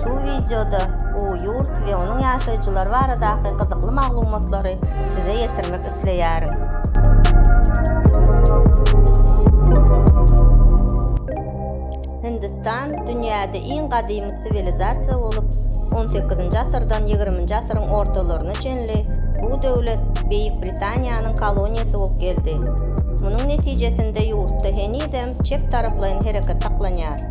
Şu wideoda bu ýurt we onuň ýaşaýjylary baradaky gyzykly maglumatlary size ýetirmek isleýärin. Hindistan dünýäde iň gadymy siwilizasiýa bolup, on sekizinji asyrdan ýigriminji asyryň ortalaryna çenli bu döwlet Beýik Britaniýanyň koloniýasy bolup geldi. Munuň netijesinde ýurtda henizem çep taraplaýyn hereket saklanýar.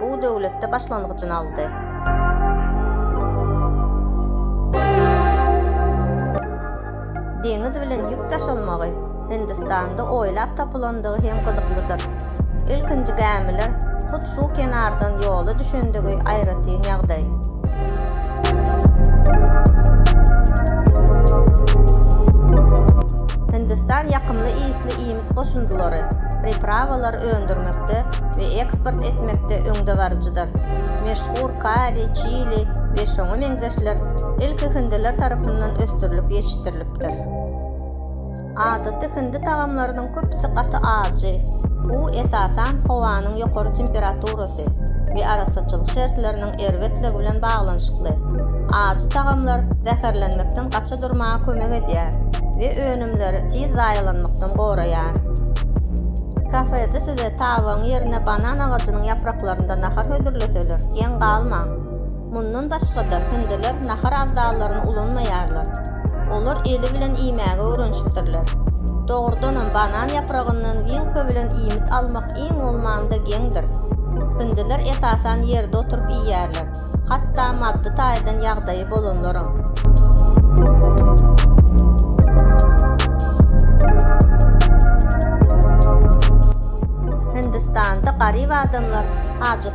Bu döwletde başlangyjyny aldy. Deňiz bilen ýük daşalmagy Hindistanda oýlap tapylandygy hem gyzyklydyr. Ilkinji gämiler hut şu kenardan ýola düşendigi aýratyn ýagdaý. Hindistan ýakymly ysly iýmit goşundylary, priprawalar öndürmekde we eksport etmekde öňdebaryjydyr. Meşhur kari, çili we şoňa meňzeşler ilki hindiler tarapyndan ösdürilip ýetişdirilipdir. Adaty hindi tagamlarynyň köpüsi gaty ajy. Bu, esasan, howanyň ýokary temperaturasy, etdi we arassaçylyk şertleriniň erbetligi bilen baglanyşykly ajy tagamlar zäherlenmekden gaça durmaga kömek edýär we önümleri tiz zaýalanmakdan goraýar. Kafede size tabagyň ýerine banan agajynyň ýapraklarynda nahar hödürleseler, geň galmaň. Mundan başga-da, hindiler nahar abzallaryny ulanmaýarlar. Olar eli bilen iýmäge öwrenişipdirler. Dogrudanam, banan ýapragyndan wilka bilen iýmit almak iň bolmanda geňdir. Hindiler esasan ýerde oturyp iýýärler, hatda maddy taýdan ýagdaýy bolanlaram.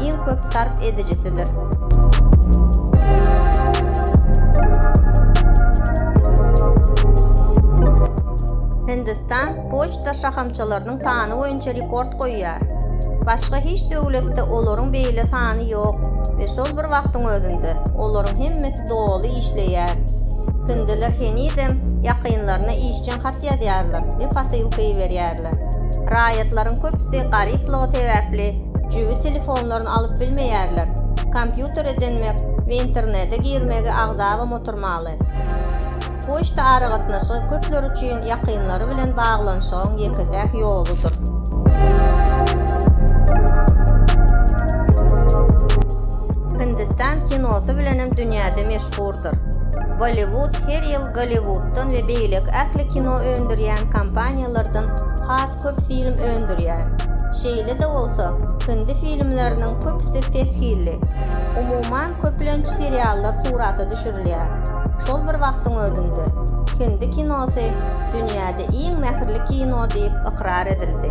iň köp sarp edijisidir. Hindistan poçta şahamçalarynyň sany boýunça rekord goýýar. Başga hiç döwletde olaryň beýle sany ýok we şol bir wagtyň özünde olaryň hemmesi doly işleýär. Hindiler henizem ýakynlaryna işjeň hat ýazýarlar we posylka iberýärler. bilýärler. Raýatlaryň köpüsi garyplygy sebäpli jübi telefonlaryny alyp bilmeýärler, kompýutere dönmek we internete girmegi agzabam oturmaly. Poçta aragatnaşygy köpler üçin ýakynlary bilen baglanyşygyň ýeke-täk ýoludyr. Hindistan kinosy bilenem dünýäde meşhurdyr. çykypdyr. Bolliwud her ýyl Golliwuddan we beýleki ähli kino öndürýän kompaniýalardan has köp film öndürýär. Şeýle-de bolsa, hindi filmleriniň köpüsi pes hilli. Umuman, köplenç seriallar surata düşürilýär. Şol bir wagtyň özünde, hindi kinosy dünýäde iň mähirli kino diýip ykrar edildi.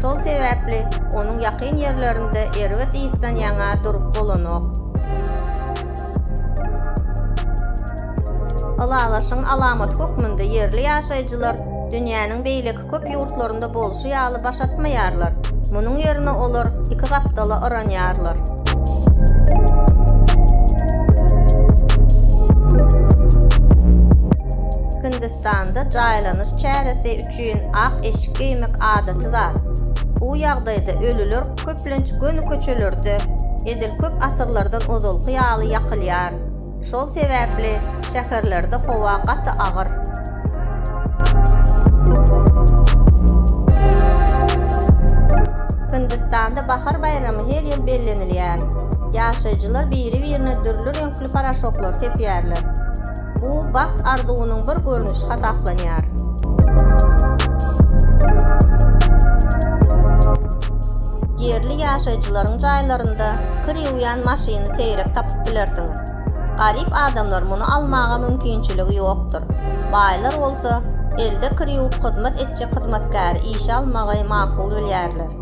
Şol sebäpli onuň ýakyn ýerlerinde erbet ysdan ýaňa durup bolanok. Ylalaşygyň alamaty hökmünde ýerli ýaşaýjylar dünýäniň beýleki köp ýurtlarynda bolşy ýaly baş atmaýarlar, munuň ýerine olar iki gapdala yranýarlar. Hindistanda jaýlanyş çäresi üçin ak eşik geýmek adaty zat. Bu ýagdaýda ölüler köplenç göni köçelerde edil köp asyrlardan ozalky ýaly ýakylýar. Şol sebäpli şäherlerde howa gaty agyr. Hindistanda bahar baýramy her ýyl bellenilýär. Ýaşaýjylar biri-birine dürli reňkli paraşoklar sepýärler. Bu bagt arzuwynyň bir görnüşi hasaplanýar. Ýerli ýaşaýjylaryň jaýlarynda kir ýuwýan maşyny seýrek tapyp bilersiňiz. Garyp adamlar muny almaga mümkinçiligi ýokdur. Baýlar bolsa, elde kir ýuwup hyzmat etjek hyzmatkäri işe almagy makul bilýärler.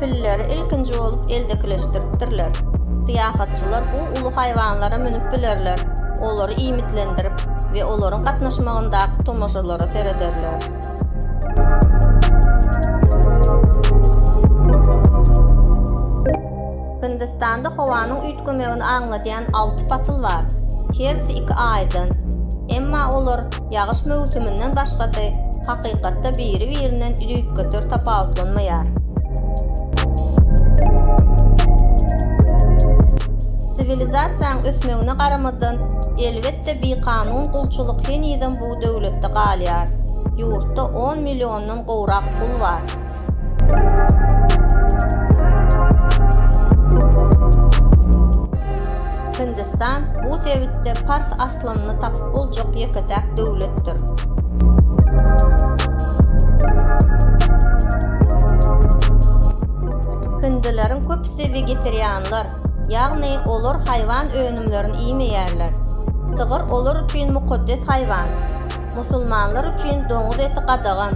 Pilleri ilkinji bolup eldekileşdiripdirler. Syýahatçylar bu uly haýwanlara münüp bilerler, olary iýmitlendirip we olaryň gatnaşmagyndaky tomaşalara serederler. Hindistanda howanyň üýtgemegini aňladýan alty pasyl bar. Hersi iki aýdan. Emma olar ýagyş möwsüminden başgasy hakykatda biri-birinden düýpgöter tapawutlanmaýar. Siwilizasiýaň ösmegine garamazdan, elbetde bikanun gulçulyk henizem bu döwletde galýar. Ýurtda on milliondan gowrak gul bar. Hindistan bu sebitde pars aslyny tapyp boljak ýeke-täk döwletdir. Hindileriň köpüsi wegetarianlar, ýagny olar haýwan önümlerini iýmeýärler. Sygyr olar üçin mukaddes haýwan. Musulmanlar üçin doňuz eti gadagan.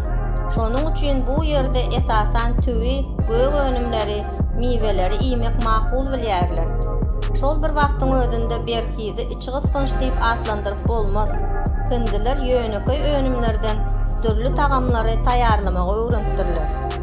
Şonuň üçin bu ýerde esasan tüwi, gök önümleri, miweleri iýmek makul bilýärler. Şol bir wagtyň özünde berhizi içgysgynç diýip atlandyryp bolmaz. Hindiler ýönekeý önümlerden dürli tagamlary taýýarlamagy öwrenipdirler.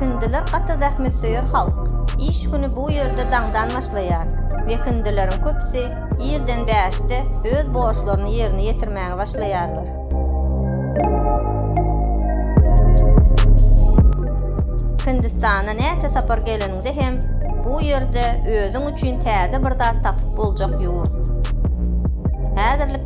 Hindiler gaty zähmetsöýer halk. Iş güni bu ýerde daňdan başlaýar we hindileriň köpüsi irden bäşde öz borçlaryny ýerine ýetirmäge başlaýarlar. Hindistana näçe sapar geleniňde hem bu ýerde özüň üçin täze bir zat tapyp boljak ýurt. Häzirlik